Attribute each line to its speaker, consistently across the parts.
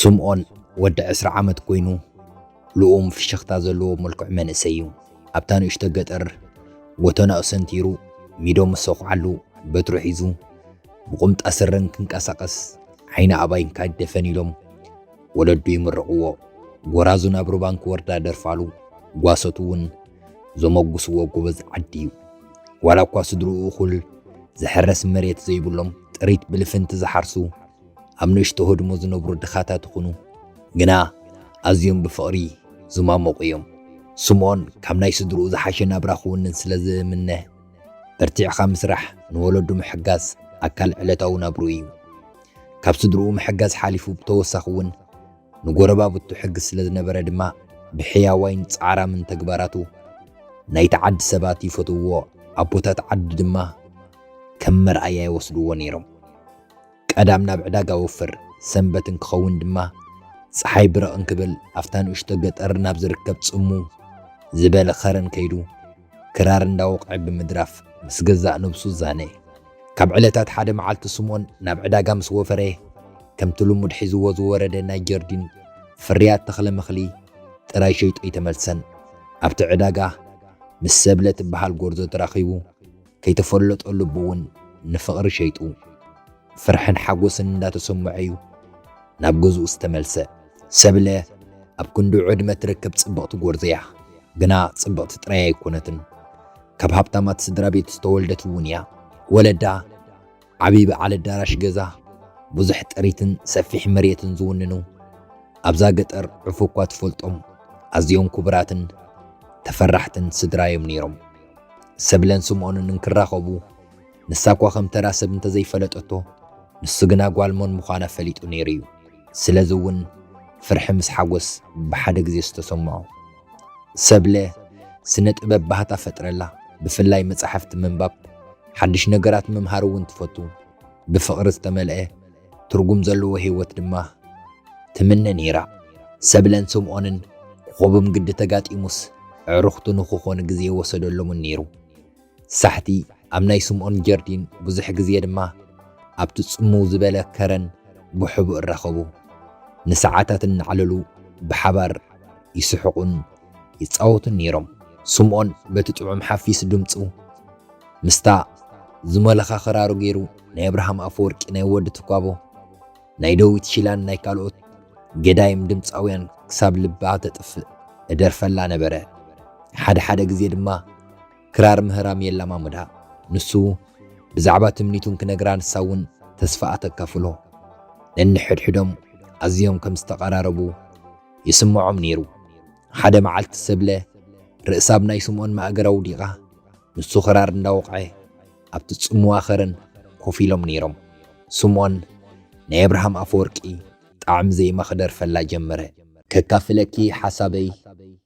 Speaker 1: ስምኦን ወዲ ዕስራ ዓመት ኮይኑ ልኡም ፍሽኽታ ዘለዎ መልክዕ መንእሰይ እዩ። ኣብታ ንእሽቶ ገጠር ጎተናኡ ሰንቲሩ ሚዶ ምስ ሰኹዓሉ በትሩ ሒዙ ብቑምጣ ስረን ክንቀሳቐስ ዓይኒ ኣባይን ካጅደፈን ኢሎም ወለዱ ይምርቕዎ፣ ጎራዙ ናብ ሩባ እንክወርዳ ደርፋሉ፣ ጓሶቱ እውን ዘሞጉስዎ ጎበዝ ዓዲ እዩ። ዋላ እኳ ስድርኡ እኹል ዝሕረስ መሬት ዘይብሎም ጥሪት ብልፍንቲ ዝሓርሱ ኣብ ንእሽቶ ህድሞ ዝነብሩ ድኻታት ይኹኑ፣ ግና ኣዝዮም ብፍቕሪ ዝማሞቑ እዮም። ስምኦን ካብ ናይ ስድርኡ ዝሓሸ ናብራ ክውንን ስለ ዝምነ፣ በርቲዕካ ምስራሕ፣ ንወለዱ ምሕጋዝ ኣካል ዕለታዊ ናብርኡ እዩ። ካብ ስድርኡ ምሕጋዝ ሓሊፉ ብተወሳኺ እውን ንጎረባብቱ ሕግዝ ስለ ዝነበረ ድማ ብሕያዋይን ጻዕራምን ተግባራቱ ናይቲ ዓዲ ሰባት ይፈትውዎ፣ ኣቦታት ዓዲ ድማ ከም መርኣያ ይወስድዎ ነይሮም። ቀዳም ናብ ዕዳጋ ወፍር፣ ሰንበት እንክኸውን ድማ ጸሓይ ብርቕ እንክብል ኣብታ ንእሽቶ ገጠር ናብ ዝርከብ ጽምው ዝበለ ኸረን ከይዱ ክራር እንዳወቕዐ ብምድራፍ ምስ ገዛእ ነብሱ ዛነ። ካብ ዕለታት ሓደ መዓልቲ ስምኦን ናብ ዕዳጋ ምስ ወፈረ ከምቲ ልሙድ ሒዝዎ ዝወረደ ናይ ጀርዲን ፍርያት ተኽለ መኽሊ ጥራይ ሸይጡ ኣይተመልሰን። ኣብቲ ዕዳጋ ምስ ሰብለ ትበሃል ጎርዞ ተራኺቡ ከይተፈለጦ ልቡ ውን ንፍቕሪ ሸይጡ ፍርሕን ሓጎስን እንዳተሰመዖ'ዩ ናብ ገዝኡ ዝተመልሰ። ሰብለ ኣብ ክንድኡ ዕድመ ትርከብ ጽብቕቲ ጎርዞ'ያ፣ ግና ጽብቕቲ ጥራይ ኣይኮነትን ካብ ሃብታማት ስድራቤት ዝተወልደት ውን እያ። ወለዳ። ዓብዪ በዓል ኣዳራሽ ገዛ፣ ብዙሕ ጥሪትን ሰፊሕ መሬትን ዝውንኑ፣ ኣብዛ ገጠር ዕፉ'ኳ ትፈልጦም ኣዝዮም ክቡራትን ተፈራሕትን ስድራ'ዮም ነይሮም። ሰብለን ስምኦንን እንክራኸቡ፣ ንሳ'ኳ ከም ተራ ሰብ እንተዘይፈለጠቶ፣ ንሱ ግና ጓል መን ምዃና ፈሊጡ ነይሩ'ዩ። ስለዚ'ውን ፍርሒ ምስ ሓጎስ ብሓደ ግዜ ዝተሰምዖ። ሰብለ ስነ ጥበብ ባህታ ፈጥረላ ብፍላይ መጻሕፍቲ ምንባብ ሓድሽ ነገራት ምምሃር እውን ትፈቱ ብፍቕሪ ዝተመልኤ ትርጉም ዘለዎ ህይወት ድማ ትምነ ነይራ ሰብለን ስምኦንን ኮኾብም ግዲ ተጋጢሙስ ኣዕሩኽቱ ንክኾኑ ግዜ ወሰደሎምን ነይሩ። ሳሕቲ ኣብ ናይ ስምኦን ጀርዲን ብዙሕ ግዜ ድማ ኣብቲ ጽምው ዝበለ ከረን ብሕቡእ እራኸቡ። ንሰዓታት እናዕለሉ ብሓባር ይስሕቑን ይጻወቱን ነይሮም። ስምኦን በቲ ጥዑም ሓፊስ ድምጹ ምስታ ዝሞለኻ ክራሩ ገይሩ ናይ ኣብርሃም ኣፈወርቂ ናይ ወዲ ትኳቦ ናይ ደዊት ሺላን ናይ ካልኦት ገዳይም ድምጻውያን ክሳብ ልባ ተጥፍእ እደርፈላ ነበረ። ሓደ ሓደ ግዜ ድማ ክራር ምህራም የላማምዳ ንሱ ብዛዕባ ትምኒቱን ክነግራ ንሳ እውን ተስፋኣ ተካፍሎ ነንሕድሕዶም ኣዝዮም ከም ዝተቐራረቡ ይስምዖም ነይሩ ሓደ መዓልቲ ሰብለ ርእሳ ኣብ ናይ ስምኦን ማእገር ኣውዲቓ ንሱ ክራር እንዳወቕዐ ኣብቲ ጽምዋ ከረን ኮፍ ኢሎም ነይሮም ስምኦን ናይ ኣብርሃም ኣፈወርቂ ጣዕሚ ዜማ ክደርፈላ ጀመረ ከካፍለኪ ሓሳበይ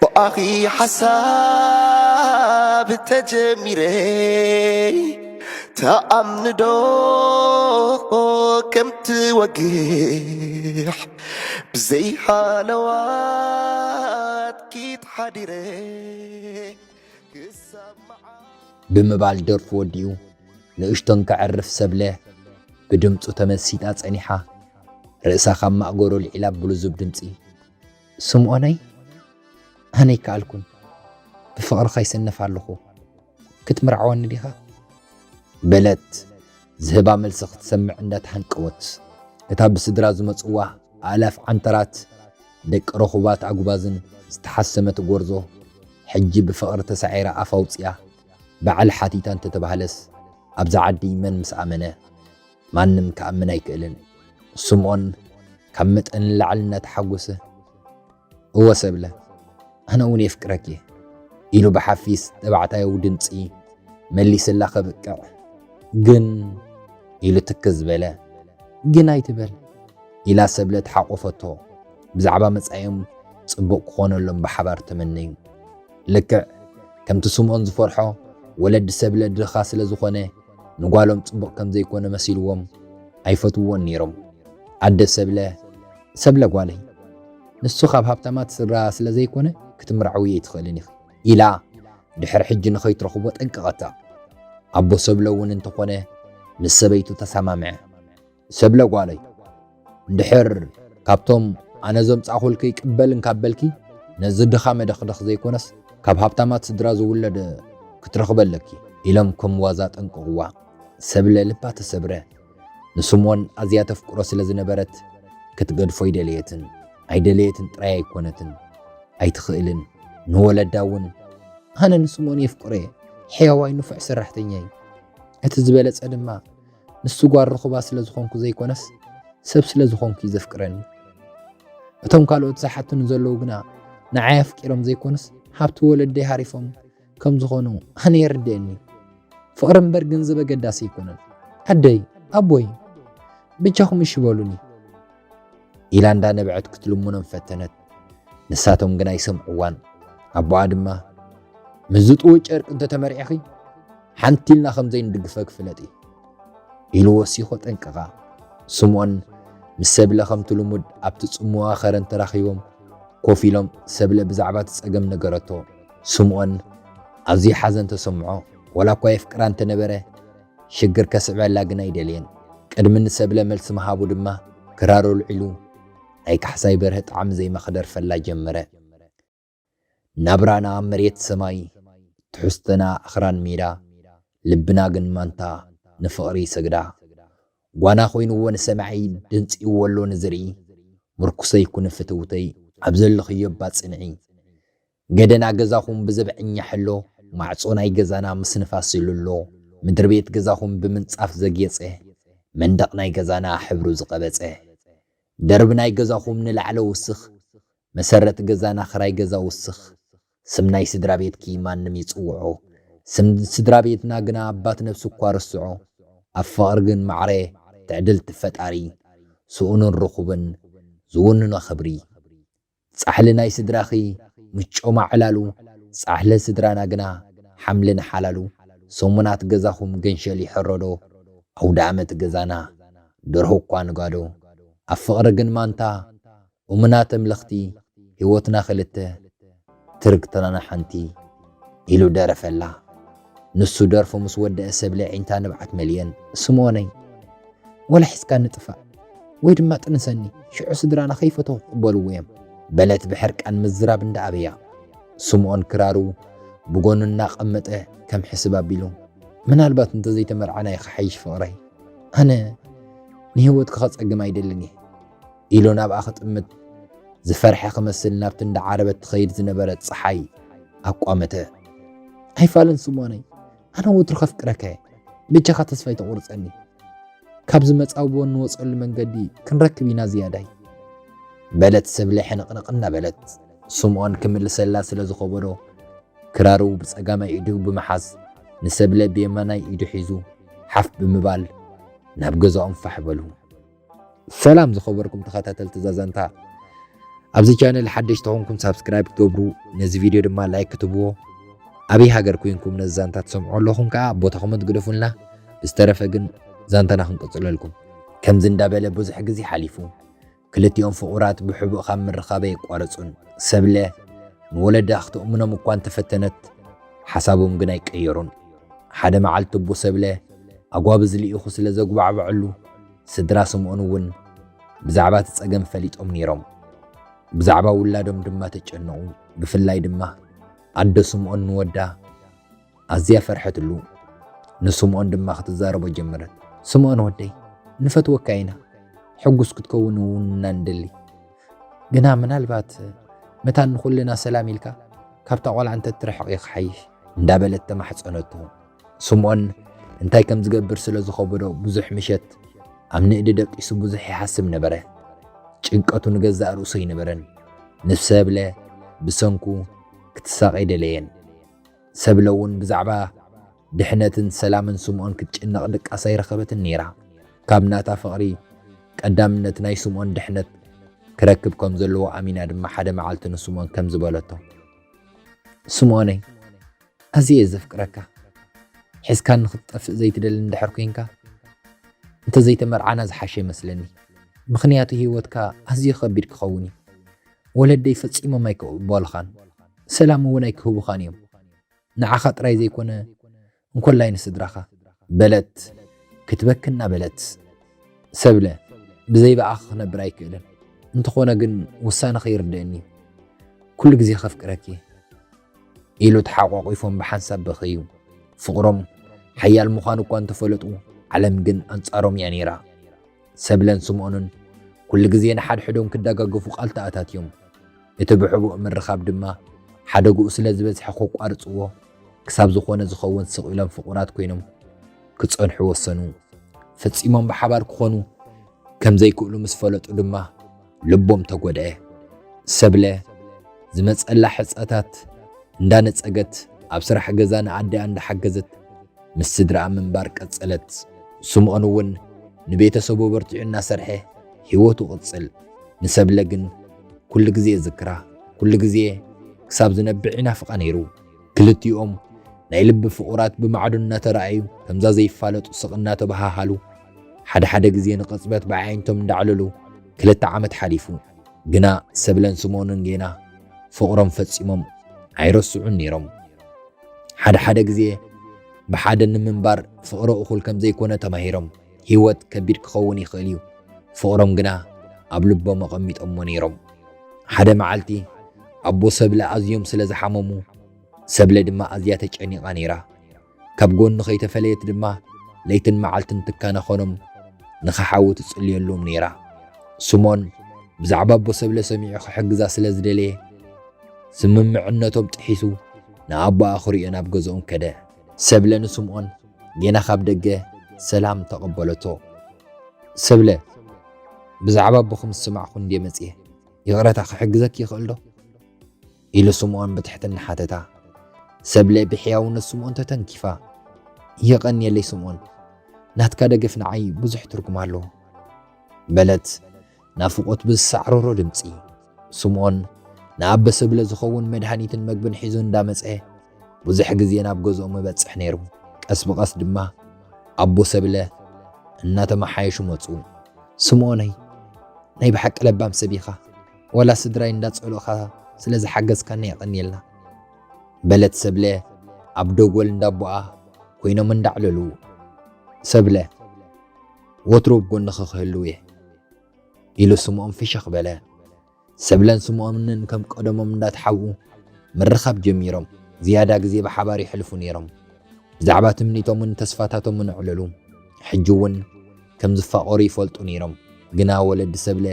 Speaker 2: ብኣኺ ሓሳብ ተጀሚረ ተኣምንዶ ከምትወግሕ ብዘይሃለዋትኪ ተሓዲረ ክሳብ መዓስ
Speaker 1: ብምባል ደርፉ ወዲኡ ንእሽቶን ከዕርፍ ሰብለ ብድምጹ ተመሲጣ ጸኒሓ ርእሳ ካብ ማእገሩ ኣልዒላ ብልዙብ ድምጺ። ስምኦነይ ኣነ ኣይከኣልኩን ብፍቕርኻ ይስነፍ ኣለኹ ክትምርዓወኒ ዲኻ? በለት ዝህባ መልሲ ክትሰምዕ እንዳተሃንቀወት። እታ ብስድራ ዝመጽዋ ኣእላፍ ዓንተራት ደቂ ረኹባት ኣጉባዝን ዝተሓሰመት ጎርዞ ሕጂ ብፍቕሪ ተሳዒራ ኣፍ ኣውጺኣ በዓል ሓቲታ እንተተባህለስ ኣብዛ ዓዲ መን ምስ ኣመነ። ማንም ክኣምን ኣይክእልን። ስምኦን ካብ መጠን ንላዕሊ እናተሓጎሰ እወ ሰብለ ኣነ እውን የፍቅረኪ እየ ኢሉ ብሓፊስ ተባዕታያዊ ድምፂ መሊስላ ከብቅዕ ግን ኢሉ ትክዝ በለ። ግን ኣይትበል ኢላ ሰብለ ተሓቆፈቶ። ብዛዕባ መጻኢኦም ጽቡቕ ክኾነሎም ብሓባር ተመነዩ። ልክዕ ከምቲ ስምኦን ዝፈርሖ ወለዲ ሰብለ ድኻ ስለ ዝኾነ ንጓሎም ጽቡቕ ከም ዘይኮነ መሲልዎም ኣይፈትውዎን ነይሮም። ኣደ ሰብለ፣ ሰብለ ጓለይ፣ ንሱ ካብ ሃብታማት ስድራ ስለ ዘይኮነ ክትምርዓውዮ ኣይትኽእልን ኢኺ ኢላ ድሕሪ ሕጂ ንኸይትረኽቦ ጠንቀቐታ። ኣቦ ሰብለ እውን እንተኾነ ምስ ሰበይቱ ተሰማምዐ። ሰብለ ጓለይ እንድሕር ካብቶም ኣነ ዘምጻኹልኪ ይቅበል እንካብ በልኪ ነዚ ድኻ መደኽደኽ ዘይኮነስ ካብ ሃብታማት ስድራ ዝውለድ ክትረኽቢ ኣለኪ ኢሎም ከም ዋዛ ጠንቅቕዋ። ሰብለ ልባ ተሰብረ። ንስምኦን ኣዝያ ተፍቅሮ ስለ ዝነበረት ክትገድፎ ኣይደለየትን። ኣይደለየትን ጥራይ ኣይኮነትን ኣይትኽእልን። ንወለዳ እውን ኣነ ንስምኦን የፍቅሮ እየ፣ ሕያዋይ ንፉዕ ሰራሕተኛይ፣ እቲ ዝበለጸ ድማ ንሱ ጓል ርኹባ ስለ ዝኾንኩ ዘይኮነስ ሰብ ስለ ዝኾንኩ እዩ ዘፍቅረኒ። እቶም ካልኦት ዝሓትኑ ዘለዉ ግና ንዓይ ኣፍቂሮም ዘይኮኑስ ሃብቲ ወለደይ ሃሪፎም ከም ዝኾኑ ኣነ የርድአኒ። ፍቕሪ እምበር ገንዘብ ኣገዳሲ ኣይኮነን። ኣደይ፣ ኣቦይ ብጃኹም እሺ በሉኒ። ኢላ እንዳነበዐት ክትልምኖም ፈተነት። ንሳቶም ግን ኣይሰምዕዋን። ኣቦኣ ድማ ምስ ዝጥውእ ጨርቂ እንተተመርዒኺ ሓንቲ ኢልና ከም ዘይንድግፈኪ ፍለጢ ኢሉ ወሲኾ ጠንቀቓ። ስምኦን ምስ ሰብለ ከምቲ ልሙድ ኣብቲ ጽምዋ ከረን ተራኺቦም ኮፍ ኢሎም ሰብለ ብዛዕባ እቲ ጸገም ነገረቶ። ስምኦን ኣዝዩ ሓዘን ተሰምዖ። ወላ እኳ የፍቅራ እንተነበረ ሽግር ከስዕበላ ግን ኣይደለየን። ቅድሚ ንሰብለ መልሲ ምሃቡ ድማ ክራሩ ኣልዒሉ ናይ ካሕሳይ በርሀ ጣዕሚ ዜማ ክደርፈላ ጀመረ። ናብራና መሬት ሰማይ፣ ትሕዝቶና ኣኽራን ሜዳ፣ ልብና ግን ማንታ ንፍቕሪ ይሰግዳ። ጓና ኮይኑዎ ንሰማዒ፣ ደንጺኡዎ ኣሎ ንዝርኢ፣ ምርኩሰይ ኩኒ ፍትውተይ፣ ኣብ ዘለኽዮ እባ ጽንዒ። ገደና ገዛኹም ብዘብዐኛ ሕሎ፣ ማዕጾ ናይ ገዛና ምስ ንፋስ ዝልሎ፣ ምድሪ ቤት ገዛኹም ብምንጻፍ ዘግየጸ፣ መንደቕ ናይ ገዛና ሕብሩ ዝቐበጸ፣ ደርብ ናይ ገዛኹም ንላዕለ ውስኽ፣ መሰረት ገዛና ክራይ ገዛ ውስኽ፣ ስም ናይ ስድራ ቤትኪ ማንም ይጽውዖ፣ ስም ስድራ ቤትና ግና ኣባት ነብሱ እኳ ርስዖ፣ ኣብ ፍቕሪ ግን ማዕረ ትዕድልቲ ፈጣሪ፣ ስኡንን ርኹብን ዝውንኖ ክብሪ። ጻሕሊ ናይ ስድራኺ ምጮማ ዕላሉ ጻሕሊ ስድራና ግና ሓምሊ ንሓላሉ ሰሙናት ገዛኹም ገንሸል ይሕረዶ ኣውደኣመት ገዛና ደርሆ እኳ ንጋዶ ኣብ ፍቕሪ ግን ማንታ እሙናት ኣምለኽቲ ህይወትና ክልተ ትርግትናና ሓንቲ ኢሉ ደረፈላ። ንሱ ደርፉ ምስ ወደኣ ሰብ ለዒንታ ንብዓት መልየን ስምኦነይ ወላ ሒዝካኒ ጥፋእ ወይ ድማ ጥንሰኒ ሽዑ ስድራና ከይፈተኹ ክቕበልዎ እዮም በለት ብሕርቃን ምዝራብ እንዳኣበያ። ስምኦን ክራሩ ብጎኑ እናቐመጠ ከም ሕስብ ኣቢሉ ምናልባት እንተዘይተመርዓና እዩ ክሓይሽ ፍቕረይ ኣነ ንህይወትኪ ከጸግም ኣይደልን እየ። ኢሉ ናብኣ ክጥምት ዝፈርሐ ክመስል ናብቲ እንዳዓረበት ትኸይድ ዝነበረት ፀሓይ ኣቋመተ። ኣይፋልን ስሞነይ፣ ኣነ ወትሩ ከፍቅረካ እየ፣ ብጃኻ ተስፋ ኣይተቑርፀኒ። ካብ ዝመፃብቦ እንወፀሉ መንገዲ ክንረክብ ኢና ዝያዳይ። በለት ሰብለ ሕንቕንቕ እናበለት ስምኦን ክምልሰላ ስለ ዝኸበዶ ክራሩ ብጸጋማይ ኢዱ ብምሓዝ ንሰብለ ብየማናይ ኢዱ ሒዙ ሓፍ ብምባል ናብ ገዛኦም ፋሕ በሉ። ሰላም ዝኸበርኩም ተኸታተልቲ ዛዛንታ ኣብዚ ቻነል ሓደሽ ተኾንኩም ሳብስክራይብ ክትገብሩ ነዚ ቪድዮ ድማ ላይክ ክትብዎ ኣበይ ሃገር ኮይንኩም ነዚ ዛንታ ትሰምዑ ኣለኹም ከዓ ቦታ ኮመንት ግደፉልና ብዝተረፈ ግን ዛንታና ክንቅፅለልኩም ከምዚ እንዳበለ ብዙሕ ግዜ ሓሊፉ ክልቲኦም ፍቑራት ብሕቡእ ካብ ምርኻበ የቋረፁን ሰብለ ንወለዳ ክትእምኖም እኳ እንተፈተነት ሓሳቦም ግን ኣይቀየሩን ሓደ መዓልቲ እቦ ሰብለ ኣጓብዝ ልኢኹ ስለ ዘጉባዕበዐሉ ስድራ ስምኦን እውን ብዛዕባ እቲ ጸገም ፈሊጦም ነይሮም። ብዛዕባ ውላዶም ድማ ተጨነቑ፣ ብፍላይ ድማ ኣዶ ስምኦን ንወዳ ኣዝያ ፈርሐትሉ፣ ንስምኦን ድማ ክትዛረቦ ጀመረት። ስምኦን ወደይ፣ ንፈትወካ ኢና፣ ሕጉስ ክትከውን እውን ኢና ንደሊ። ግና ምናልባት መታን ንኹልና ሰላም ኢልካ ካብታ ቆልዓ እንተትርሕቕ እዩ ክሓይሽ እንዳበለት ተማሕጸነቶ። ስምኦን እንታይ ከም ዝገብር ስለ ዝኸበዶ ብዙሕ ምሸት ኣብ ንእዲ ደቂሱ ብዙሕ ይሓስብ ነበረ። ጭንቀቱ ንገዛእ ርእሱ ኣይነበረን። ንሰብለ ብሰንኩ ክትሳቐ ኣይደለየን። ሰብለ እውን ብዛዕባ ድሕነትን ሰላምን ስምኦን ክትጭነቕ ድቃስ ኣይረኸበትን ነይራ። ካብ ናታ ፍቕሪ ቀዳምነት ናይ ስምኦን ድሕነት ክረክብ ከም ዘለዎ ኣሚና ድማ ሓደ መዓልቲ ንስምኦን ከም ዝበለቶ ስምኦነይ ኣዝየ እየ ዘፍቅረካ ሒዝካኒ ክትጠፍእ ዘይትደሊ እንድሕር ኮንካ እንተዘይተመርዓና ዝሓሸ ይመስለኒ ምኽንያቱ ሂወትካ ኣዝዩ ከቢድ ክኸውን እዩ ወለደይ ፈጺሞም ኣይክቕበሉኻን ሰላም እውን ኣይክህቡኻን እዮም ንዓኻ ጥራይ ዘይኮነ እንኮላይ ንስድራኻ በለት ክትበኪ እናበለት ሰብለ ብዘይ ብኣኺ ክነብር ኣይክእልን እንተኾነ ግን ውሳነኺ ይርድእኒ ኩሉ ግዜ ከፍቅረኪ እየ ኢሉ ተሓቋቒፎም ብሓንሳብ በኸዩ። ፍቕሮም ሓያል ምዃኑ እኳ እንተፈለጡ ዓለም ግን ኣንጻሮም እያ ነይራ። ሰብለን ስምኦንን ኩሉ ግዜ ንሓድሕዶም ክደጋገፉ ቃል ተኣታትዮም። እቲ ብሕቡእ ምርኻብ ድማ ሓደግኡ ስለ ዝበዝሐ ከቋርጽዎ ክሳብ ዝኾነ ዝኸውን ስቕ ኢሎም ፍቑራት ኮይኖም ክጸንሑ ወሰኑ። ፈጺሞም ብሓባር ክኾኑ ከም ዘይክእሉ ምስ ፈለጡ ድማ ልቦም ተጎድኤ። ሰብለ ዝመጸላ ሕጸታት እንዳነጸገት ኣብ ስራሕ ገዛ ንኣዲኣ እንዳሓገዘት ምስ ስድራኣ ምንባር ቀጸለት። ስምኦን ውን ንቤተሰቡ ኣበርቲዑ እናሰርሐ ሂወቱ ቅጽል። ንሰብለ ግን ኩሉ ግዜ ይዝክራ ኩሉ ግዜ ክሳብ ዝነብዕ ይናፍቃ ነይሩ። ክልቲኦም ናይ ልቢ ፍቑራት ብማዕዶ እናተራኣዩ ከምዛ ዘይፋለጡ ስቕ እናተበሃሃሉ፣ ሓደ ሓደ ግዜ ንቕጽበት ብኣዒንቶም እንዳዕለሉ ክልተ ዓመት ሓሊፉ። ግና ሰብለን ስምኦንን ጌና ፍቕሮም ፈጺሞም ኣይረስዑን ነይሮም። ሓደ ሓደ ግዜ ብሓደ ንምንባር ፍቕሪ እኹል ከም ዘይኮነ ተማሂሮም። ህይወት ከቢድ ክኸውን ይኽእል እዩ፣ ፍቕሮም ግና ኣብ ልቦም ኣቐሚጦሞ ነይሮም። ሓደ መዓልቲ ኣቦ ሰብለ ኣዝዮም ስለ ዝሓመሙ ሰብለ ድማ ኣዝያ ተጨኒቓ ነይራ። ካብ ጎኑ ከይተፈለየት ድማ ለይትን መዓልትን ትከናኸኖም ንኸሓዊ ትጽልየሎም ነይራ። ስሞን ብዛዕባ ኣቦ ሰብለ ሰሚዑ ክሕግዛ ስለ ዝደለየ ስምምዕነቶም ጥሒሱ ንኣቦኣ ክሪኦ ናብ ገዝኦም ከደ። ሰብለ ንስምኦን ጌና ካብ ደገ ሰላም ተቐበለቶ። ሰብለ ብዛዕባ ኣቦኹም ዝሰማዕኹ እንድየ መጽየ፣ ይቕረታ ክሕግዘኪ ይኽእል ዶ? ኢሉ ስምኦን ብትሕትና ሓተታ። ሰብለ ብሕያውነት ስምኦን ተተንኪፋ፣ የቐንየለይ ስምኦን፣ ናትካ ደገፍ ንዓይ ብዙሕ ትርጉም ኣለዎ። በለት ናፍቖት ብዝሳዕረሮ ድምጺ። ስምኦን ንኣበ ሰብለ ዝኸውን መድሃኒትን መግብን ሒዙ እንዳመጸ ብዙሕ ግዜ ናብ ገዝኦም እበጽሕ ነይሩ። ቀስ ብቐስ ድማ ኣቦ ሰብለ እናተመሓየሹ መጹ። ስምኦነይ ናይ ብሓቂ ለባም ሰብ ኢኻ። ዋላ ስድራይ እንዳጸሉእኻ ስለ ዝሓገዝካኒ የቐንየልና በለት ሰብለ ኣብ ደጎል እንዳቦኣ ኮይኖም እንዳዕለሉ ሰብለ ወትሩ ኣብ ጎንኺ ክህልው እየ ኢሉ ስምኦም ፍሽኽ በለ። ሰብለን ስምኦምንን ከም ቀደሞም እንዳተሓብኡ ምርኻብ ጀሚሮም ዝያዳ ግዜ ብሓባር የሕልፉ ነይሮም። ብዛዕባ ትምኒቶምን ተስፋታቶምን ኣዕለሉ። ሕጂ እውን ከም ዝፋቐሩ ይፈልጡ ነይሮም፣ ግና ወለዲ ሰብለ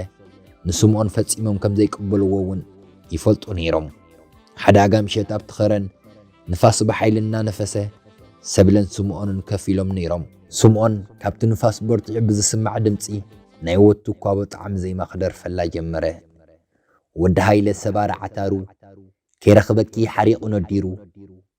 Speaker 1: ንስምኦን ፈጺሞም ከም ዘይቅበልዎ እውን ይፈልጡ ነይሮም። ሓደ ኣጋ ምሸት ኣብቲ ኸረን ንፋስ ብሓይሊ እናነፈሰ ሰብለን ስምኦንን ከፍ ኢሎም ነይሮም። ስምኦን ካብቲ ንፋስ በርቲዑ ብዝስማዕ ድምጺ ናይ ወድ ትኳቦ ጣዕሚ ዜማ ክደርፈላ ጀመረ። ወዲ ሃይለ ሰባሪ ዓታሩ ከይረኽበኪ ሓሪቑ ነዲሩ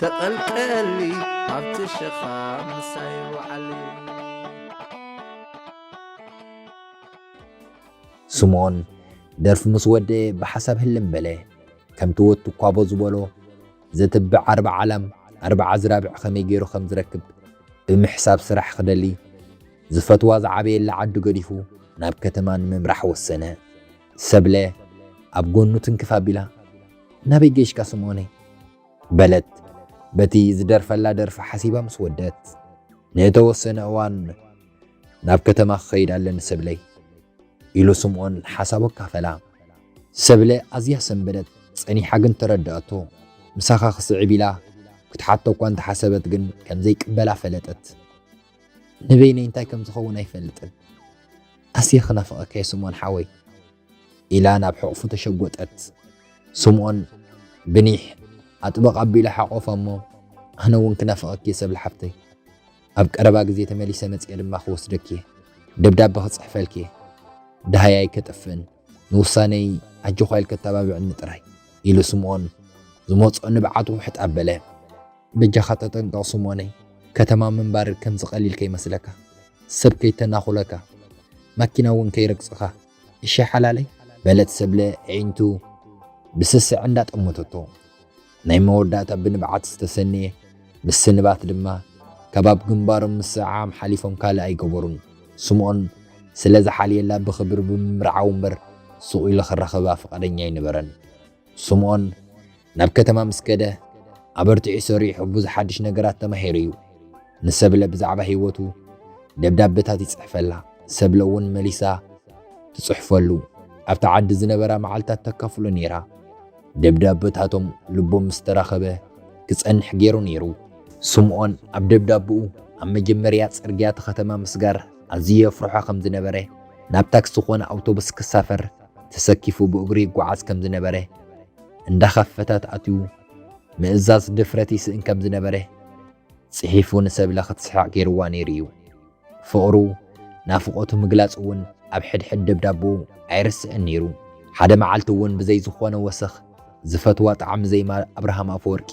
Speaker 3: ተቐልቀሊ ኣብቲ ሸኻ
Speaker 1: ምሳይ ውዓሊ ስምኦን ደርፊ ምስ ወደየ ብሓሳብ ህልም በለ ከምቲ ወቱ ኳቦ ዝበሎ ዘትብዕ ኣርባ ዓላም ኣርባ ኣዝራብዕ ከመይ ገይሩ ከም ዝረክብ ብምሕሳብ ስራሕ ክደሊ ዝፈትዋ ዝዓበየላ ዓዱ ገዲፉ ናብ ከተማ ንምምራሕ ወሰነ ሰብለ ኣብ ጎኑ ትንክፍ ኣቢላ ናበይ ገይሽካ ስምኦነይ በለት በቲ ዝደርፈላ ደርፊ ሓሲባ ምስ ወደት። ንእተወሰነ እዋን ናብ ከተማ ክኸይድ ኣለኒ ሰብለይ። ኢሉ ስምኦን ሓሳቡ ኣካፈላ። ሰብለ ኣዝያ ሰንበደት፣ ጸኒሓ ግን ተረድኣቶ። ምሳኻ ክስዕብ ኢላ ክትሓቶ እኳ እንተ ሓሰበት ግን ከም ዘይቅበላ ፈለጠት። ንበይነይ እንታይ ከም ዝኸውን ኣይፈልጥን። ኣዝየ ክናፍቐካ'የ ስምኦን ሓወይ። ኢላ ናብ ሕቕፉ ተሸጎጠት። ስምኦን ብኒሕ ኣጥበቕ ኣቢሉ ሓቖፋ'ሞ፣ ኣነ'ውን ክናፍቐኪ'የ ሰብለ ሓብተይ። ኣብ ቀረባ ግዜ ተመሊሰ መጺኤ ድማ ክወስደኪ'የ፣ ደብዳበ ክጽሕፈልኪ'የ። ደሃይ ኣይከጥፍእን፣ ንውሳነይ ኣጆዃ ኢልኪ ኣተባብዕኒ ጥራይ፣ ኢሉ ስምኦን ዝመጽኦ ንብዓት ውሕጥ ኣበለ። በጃኻ ተጠንቀቕ ስምኦነይ ከተማ ምንባር ከምዚ ቀሊል ከይመስለካ ሰብ ከይተናኹለካ ማኪና ውን ከይረግጽኻ እሺ ሓላለይ በለት ሰብለ ኣዒንቱ ብስስዐ እንዳ ጠመተቶ ናይ መወዳእታ ብንብዓት ዝተሰንየ ምስንባት ድማ ካብ ኣብ ግንባሮም ምስዕዓም ሓሊፎም ካልእ ኣይገበሩን ስምኦን ስለ ዝሓልየላ ብኽብሪ ብምምርዓው እምበር ሱቕ ኢሉ ክራኸባ ፍቓደኛ ኣይነበረን ስምኦን ናብ ከተማ ምስ ከደ ኣበርቲዑ ሰሪሑ ብዙሕ ሓድሽ ነገራት ተማሂሩ እዩ። ንሰብለ ብዛዕባ ህይወቱ ደብዳበታት ይጽሕፈላ፣ ሰብለ እውን መሊሳ ትጽሕፈሉ። ኣብቲ ዓዲ ዝነበራ መዓልታት ተካፍሎ ነይራ። ደብዳበታቶም ልቦም ምስ ተራኸበ ክጸንሕ ገይሩ ነይሩ። ስምኦን ኣብ ደብዳብኡ ኣብ መጀመርያ ጽርግያ እቲ ከተማ ምስጋር ኣዝዩ የፍርሖ ከም ዝነበረ፣ ናብ ታክሲ ኮነ ኣውቶቡስ ክሳፈር ተሰኪፉ ብእግሩ ይጓዓዝ ከም ዝነበረ፣ እንዳኸፈታት ኣትዩ ምእዛዝ ድፍረት ይስእን ከም ዝነበረ ጽሒፉ ንሰብለ ክትስሕቕ ገይርዋ ነይሩ እዩ። ፍቕሩ፣ ናፍቖቱ ምግላጽ እውን ኣብ ሕድሕድ ደብዳቦኡ ኣይርስዕን ነይሩ። ሓደ መዓልቲ እውን ብዘይ ዝኾነ ወሰኽ ዝፈትዋ ጣዕሚ ዘይማር ኣብርሃም ኣፈወርቂ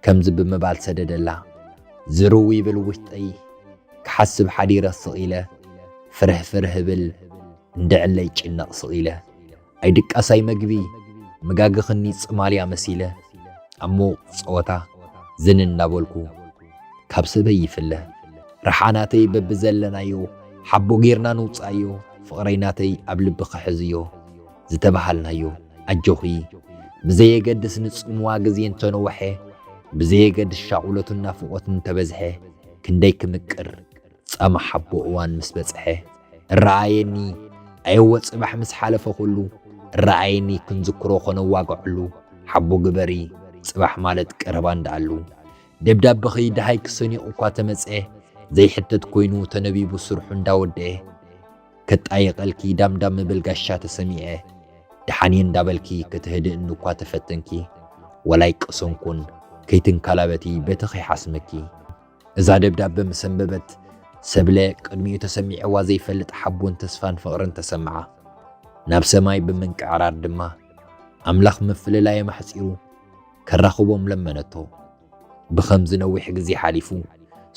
Speaker 1: ከምዚ ብምባል ሰደደላ። ዝርው ይብል ውሽጠይ፣ ክሓስብ ሓዲረ ስቕ ኢለ ፍርሕፍርሕ እብል። እንደዕለይ ጭነቕ ስቒለ ኣይድቃሳይ መግቢ መጋግኽኒ ጽማልያ መሲለ ኣብ ምዉቕ ጸወታ ዝን እናበልኩ ካብ ሰበይ ይፍለ ረሓናተይ በብዘለናዮ ሓቦ ጌርና ንውጻዮ ፍቕረይ ናተይ ኣብ ልቢ ክሕዝዮ ዝተበሃልናዮ ኣጆኺ ብዘየገድስ ንጽምዋ ግዜ እንተነወሐ ብዘየገድስ ሻቑሎትን ናፍቖትን እንተበዝሐ ክንደይ ክምቅር ጻማ ሓቦ እዋን ምስ በጽሐ እረኣየኒ ኣየወ ጽባሕ ምስ ሓለፈ ኩሉ እረኣየኒ ክንዝክሮ ከነዋግዐሉ ሓቦ ግበሪ ጽባሕ ማለት ቀረባ እንዳኣሉ ደብዳበኺ ደሃይ ክሰንዮ እኳ ተመጸ ዘይሕተት ኮይኑ ተነቢቡ ስርሑ እንዳወደኤ ከጣይቐልኪ ዳምዳም ምብል ጋሻ ተሰሚዐ ደሓንየ እንዳበልኪ ከተህድእኒ እኳ ተፈተንኪ ወላይ ቀሰንኩን ከይትንካላበቲ በተኺ ሓስመኪ እዛ ደብዳበ ምስ ኣንበበት ሰብለ ቅድሚኡ ተሰሚዕዋ ዘይፈልጥ ሓቦን ተስፋን ፍቕርን ተሰምዓ። ናብ ሰማይ ብምንቅዕራር ድማ ኣምላኽ ምፍልላዮም ኣሕጺሩ ከራኽቦም ለመነቶ። ብኸምዚ ነዊሕ ግዜ ሓሊፉ።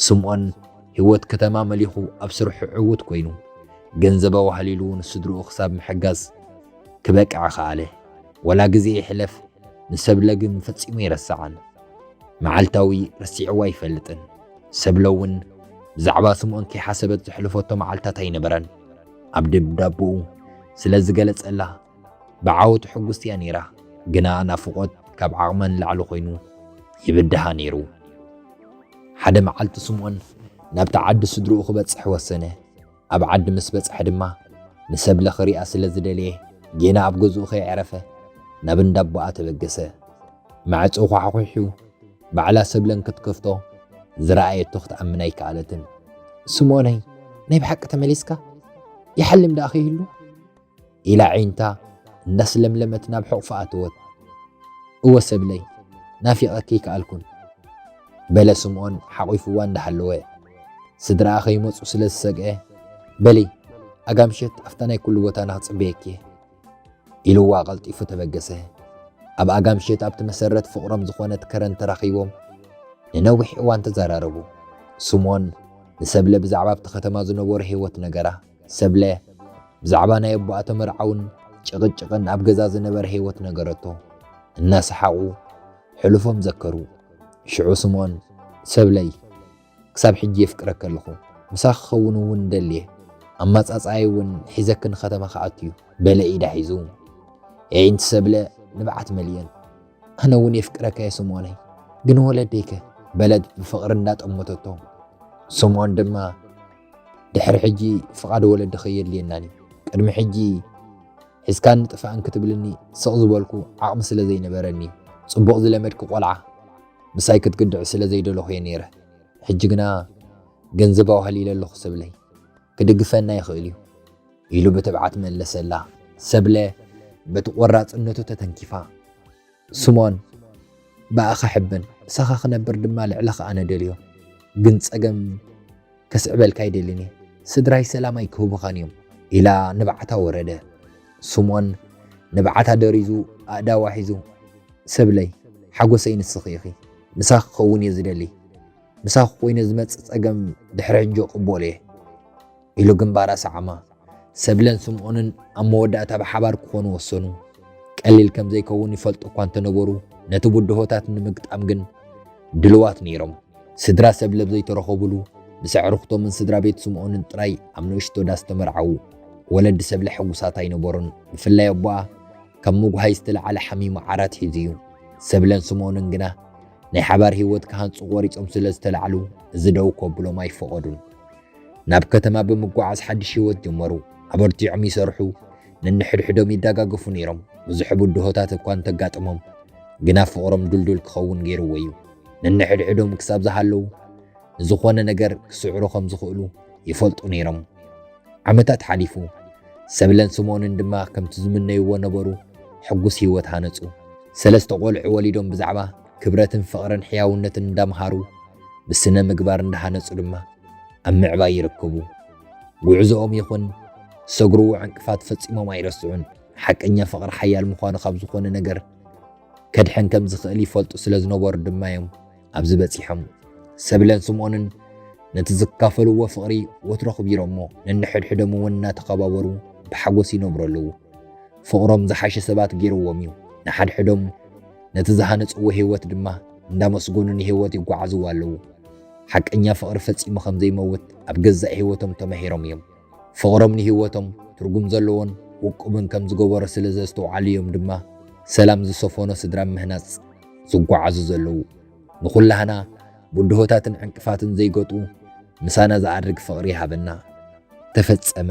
Speaker 1: ስምኦን ህይወት ከተማ መሊኹ ኣብ ስርሑ ዕዉት ኮይኑ ገንዘብ ኣዋህሊሉ ንስድርኡ ክሳብ ምሕጋዝ ክበቅዕ ኸኣለ። ወላ ግዜ ይሕለፍ ንሰብለ ግን ፈጺሙ ኣይረስዓን። መዓልታዊ ረሲዕዎ ኣይፈልጥን። ሰብለ እውን ብዛዕባ ስምኦን ከይሓሰበት ዘሕልፈቶ መዓልታት ኣይነበረን። ኣብ ደብዳብኡ ስለ ዝገለጸላ ብዓወቱ ሕጉስቲ እያ ነይራ። ግና ናፍቖት ካብ ዓቕማ ንላዕሊ ኮይኑ ይብድሃ ነይሩ። ሓደ መዓልቲ ስምኦን ናብቲ ዓዲ ስድርኡ ክበጽሕ ወሰነ። ኣብ ዓዲ ምስ በጽሐ ድማ ንሰብለ ክሪኣ ስለ ዝደለየ ጌና ኣብ ገዝኡ ከይዐረፈ ናብ እንዳ ኣቦኣ ተበገሰ። ማዕጾ ዃሕዂሑ ባዕላ ሰብለ እንክትከፍቶ ዝረኣየቶ ክትኣምን ኣይከኣለትን። ስምኦነይ ናይ ብሓቂ ተመሊስካ? ይሓልም ደኣ ከይህሉ? ኢላ ዓይንታ እንዳስለምለመት ናብ ሕቑፋ ኣተወት። እወ ሰብለይ ናፊቐኪ ኣይከኣልኩን በለ ስምኦን ሓቒፉዋ እንዳሃለወ። ስድራኣ ከይመጹ ስለ ዝሰግዐ በሊ ኣጋ ምሸት ኣብታ ናይ ኩሉ ቦታና ክጽበየኪ እየ ኢሉዋ ቀልጢፉ ተበገሰ። ኣብ ኣጋ ምሸት ኣብቲ መሰረት ፍቕሮም ዝኾነት ከረን ተራኺቦም ንነዊሕ እዋን ተዘራረቡ። ስምኦን ንሰብለ ብዛዕባ ኣብቲ ከተማ ዝነበሮ ህይወት ነገራ። ሰብለ ብዛዕባ ናይ ኣቦኣ ተመርዓውን ጭቕጭቕን ኣብ ገዛ ዝነበረ ህይወት ነገረቶ። እናሰሓቑ ሕሉፎም ዘከሩ። ሽዑ ስምኦን፣ ሰብለይ፣ ክሳብ ሕጂ የፍቅረኪ ኣለኹ። ምሳኺ ክኸውን እውን እደሊ እየ። ኣማጻጽኣይ እውን ሒዘኪ ንከተማ ክኣቱ እዩ። በለ ኢዳ ሒዙ። የዒንቲ ሰብለ ንብዓት መሊኤን። ኣነ እውን የፍቅረካ እየ ስምኦነይ፣ ግን ወለደይከ? በለት ብፍቕሪ እንዳጠመተቶ። ስምኦን ድማ፣ ድሕሪ ሕጂ ፍቓድ ወለዲ ከየድልየናን እዩ ቅድሚ ሕጂ ሒዝካን ጥፋእን ክትብልኒ ስቕ ዝበልኩ ዓቕሚ ስለ ዘይነበረኒ ጽቡቕ ዝለመድኪ ቆልዓ ምሳይ ክትግድዕ ስለ ዘይደለኹ እየ ነይረ ሕጂ ግና ገንዘብ ኣዋህሊለ ኣለኹ ሰብለይ ክድግፈና ይኽእል እዩ ኢሉ ብትብዓት መለሰላ ሰብለ በቲ ቆራጽነቱ ተተንኪፋ ስምኦን ብኣኻ ሕብን ምሳኻ ክነብር ድማ ልዕለኻ ኣነ ደልዮ ግን ጸገም ከስዕበልካ ኣይደልን እየ ስድራይ ሰላም ኣይክህቡኻን እዮም ኢላ ንብዓታ ወረደ ስምኦን ንብዓታ ደሪዙ ኣእዳዋ ሒዙ ሰብለይ ሓጎሰይ ንስኺ ኢኺ ምሳኺ ክኸውን እየ ዝደሊ ምሳኺ ኮይነ ዝመጽእ ጸገም ድሕሪ ሕጂ እቕበሎ እየ ኢሉ ግንባር ኣሰዓማ። ሰብለን ስምኦንን ኣብ መወዳእታ ብሓባር ክኾኑ ወሰኑ። ቀሊል ከም ዘይከውን ይፈልጡ እኳ እንተነበሩ፣ ነቲ ብድሆታት ንምግጣም ግን ድልዋት ነይሮም። ስድራ ሰብለ ኣብ ዘይተረኸቡሉ፣ ምስ ኣዕሩኽቶምን ስድራ ቤት ስምኦንን ጥራይ ኣብ ንእሽቶ ዳስ ተመርዓዉ። ወለዲ ሰብለ ሕጉሳት ኣይነበሩን፣ ብፍላይ ኣቦኣ ካብ ምጉሃይ ዝተለዓለ ሓሚሙ ዓራት ሒዙ እዩ። ሰብለን ስምኦንን ግና ናይ ሓባር ህይወት ክሃንጹ ቆሪጾም ስለ ዝተላዕሉ እዚ ደው ከብሎም ኣይፈቐዱን። ናብ ከተማ ብምጓዓዝ ሓድሽ ህይወት ጀመሩ። ኣበርቲዖም ይሰርሑ፣ ነንሕድሕዶም ይደጋገፉ ነይሮም። ብዙሕ ብድሆታት እኳ እንተጋጠሞም ግና ፍቕሮም ድልዱል ክኸውን ገይርዎ እዩ። ነንሕድሕዶም ክሳብ ዝሃለዉ ንዝኾነ ነገር ክስዕሩ ከም ዝኽእሉ ይፈልጡ ነይሮም። ዓመታት ሓሊፉ፣ ሰብለን ስምኦንን ድማ ከምቲ ዝምነይዎ ነበሩ፣ ሕጉስ ህይወት ሃነጹ። ሰለስተ ቆልዑ ወሊዶም ብዛዕባ ክብረትን ፍቕርን ሕያውነትን እንዳምሃሩ ብስነ ምግባር እንዳሃነጹ ድማ ኣብ ምዕባይ ይርክቡ። ጉዕዞኦም ይኹን ዝሰግርዎ ዕንቅፋት ፈጺሞም ኣይረስዑን። ሓቀኛ ፍቕሪ ሓያል ምዃኑ ካብ ዝኾነ ነገር ከድሕን ከም ዝኽእል ይፈልጡ ስለ ዝነበሩ ድማ እዮም ኣብዚ በጺሖም። ሰብለን ስምኦንን ነቲ ዝካፈልዎ ፍቕሪ ወትሩ ኣኽቢሮሞ ነንሕድሕዶም እውን እናተኸባበሩ ብሓጎስ ይነብሩ ኣለዉ። ፍቕሮም ዝሓሸ ሰባት ገይርዎም እዩ። ንሓድሕዶም ነቲ ዝሃነጽዎ ህይወት ድማ እንዳመስገኑ ንህይወት ይጓዓዝዋ ኣለዉ። ሓቀኛ ፍቕሪ ፈጺሙ ከም ዘይመውት ኣብ ገዛእ ህይወቶም ተማሂሮም እዮም። ፍቕሮም ንህይወቶም ትርጉም ዘለዎን ውቁብን ከም ዝገበሮ ስለ ዘስተውዓሉ እዮም ድማ ሰላም ዝሰፈኖ ስድራ ኣብ ምህናጽ ዝጓዓዙ ዘለዉ። ንኹላህና ብድሆታትን ዕንቅፋትን ዘይገጡ ምሳና ዝኣርግ ፍቕሪ ይሃበና። ተፈጸመ።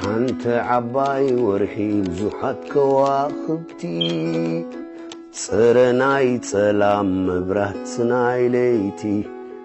Speaker 4: ሓንቲ ዓባይ ወርሒ ብዙሓት ከዋኽብቲ ፅረ ናይ ፀላም መብራት ናይ ለይቲ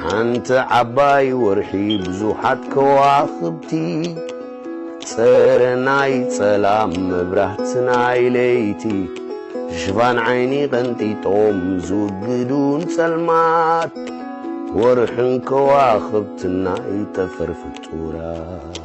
Speaker 4: ሓንቲ ዓባይ ወርሒ ብዙሓት ከዋኽብቲ ጸረ ናይ ጸላም መብራህቲ ናይ ለይቲ ሽፋን ዓይኒ ቀንጢጦም ዝውግዱን ጸልማት ወርሕን ከዋኽብትን ናይ ጠፈር ፍጡራት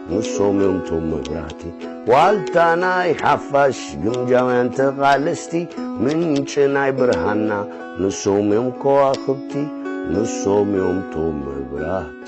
Speaker 4: ንሶም እዮም ቶም መብራህቲ ዋልታ ናይ ሓፋሽ ግምጃውያን ተቓለስቲ ምንጪ ናይ ብርሃና ንሶም እዮም ከዋኽብቲ ንሶም እዮም ቶም መብራህቲ